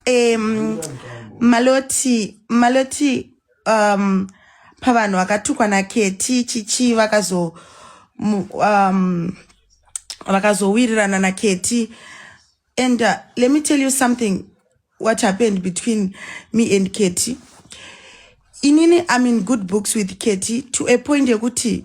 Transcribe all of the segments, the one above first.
um, maloti maloti um, pavanhu vakatukwa naketi chichi vakazo um, vakazowirirana naketi and uh, let me tell you something what happened between me and keti inini i'm in good books with keti to a point yekuti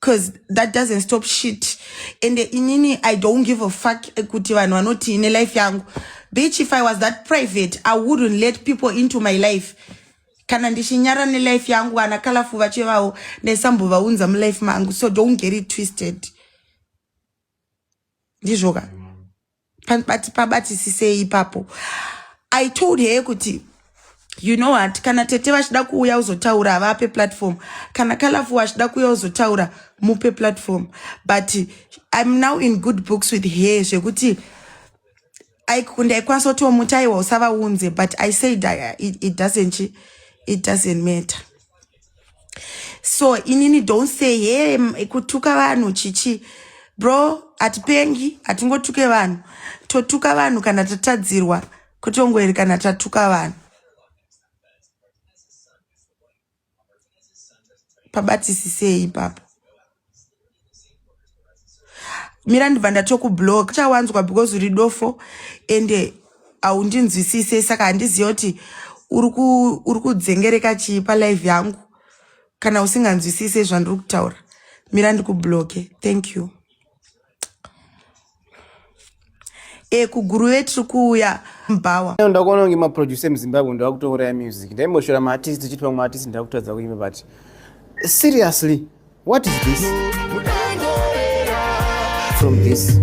cause that doesn't stop shit and inini i don't give a fuck ekuti vanhu vanoti ine life yangu bitch if i was that private i wouldn't let people into my life kana ndichinyara nelife yangu vana kalafu vachevawo ndaisambovaunza mulife mangu so don't get it twisted ndizvoka pabati pabatisisei ipapo i told her kuti you know what kana tete vachida kuuya uzotaura havape platform kana kalafu wachida kuuya uzotaura mupe platform but im now in good books with her zvekuti ndaikwanisa kutiwo muti aiwa usavaunze but i said it, it doesn't it doesn't matter so inini don't say he hey, kutuka vanhu chichi bro hatipengi hatingotuke vanhu totuka vanhu kana tatadzirwa kutongweri kana tatuka vanhu pabatisisei ipapo mira ndibva ndatokublock chawanzwa because uri dofo ende haundinzwisise saka handiziva kuti uri kudzengereka chii palive yangu kana usinganzwisise zvandiri kutaura mira ndikublocke thank you e kuguruve tiri kuuya mbawa ndakuona kunge maproducer emuzimbabwe ndava kutouraya music ndaimboshora maartist tichiti vamwe artist ndava kutadza kuimba but seriously what is this from this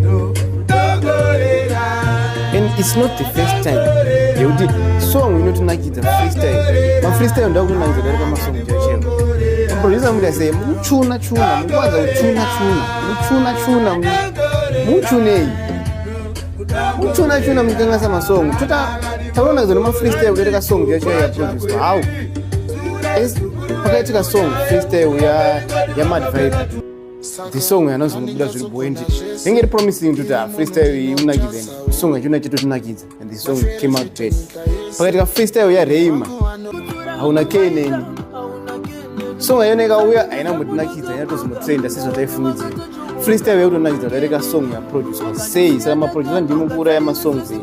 and it's not the first time yekuti song inotinakidza freestyle mafreestyle ndava kutonakidza darika masong chacheo maproducer muti aseye mukuchuna chuna mukuwanza kuchuna chuna Muchuna chuna muchunei? Muchuna chuna mukangasa masong. Tuta taona zona ma freestyle kuti ka song yacho ya produce. How? Is pakaita ka song freestyle ya ya Mad Vibe. The song yanozongobuda zviri bwendi. Inge promising kuti ah, freestyle iyi unakidze. Song yacho inachito tunakidza. and the song came out great pakaitika freestyle ya reima hauna ke neni song yayona ikauya haina mutinakidza haina tozomutrenda sezvataifungidzira freestyle yakutonakidza kudarika song yaproducer sei saka maproducer ndimo kuura yamasongs here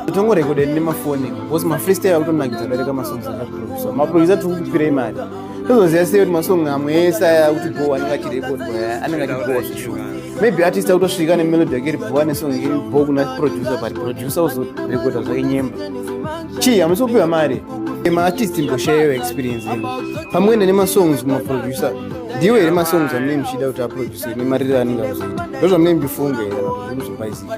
totongorekodeni nemafoni because mafreestyle akutonakidza kudarika masongs akaproducer maproducer tiri kukupirei mari tozoziva sei kuti masong amwe ese aya kuti bhowa anenge achirekodwa eh, anenge achibhowa zveshuwa maybe artist akutosvika nemelodi yake ribhowa nesong iri bho kuna producer but producer uzorekodha zvake nyemba chii hamusi kupiwa mari maartist mboshayeyo experience ino pamwe enda nemasongs kumaproducer ndiwo here masongs amune muchida kuti aproducer nemariro anenge akuzoita ndo zvamune mbifunge here zvokuzobaizika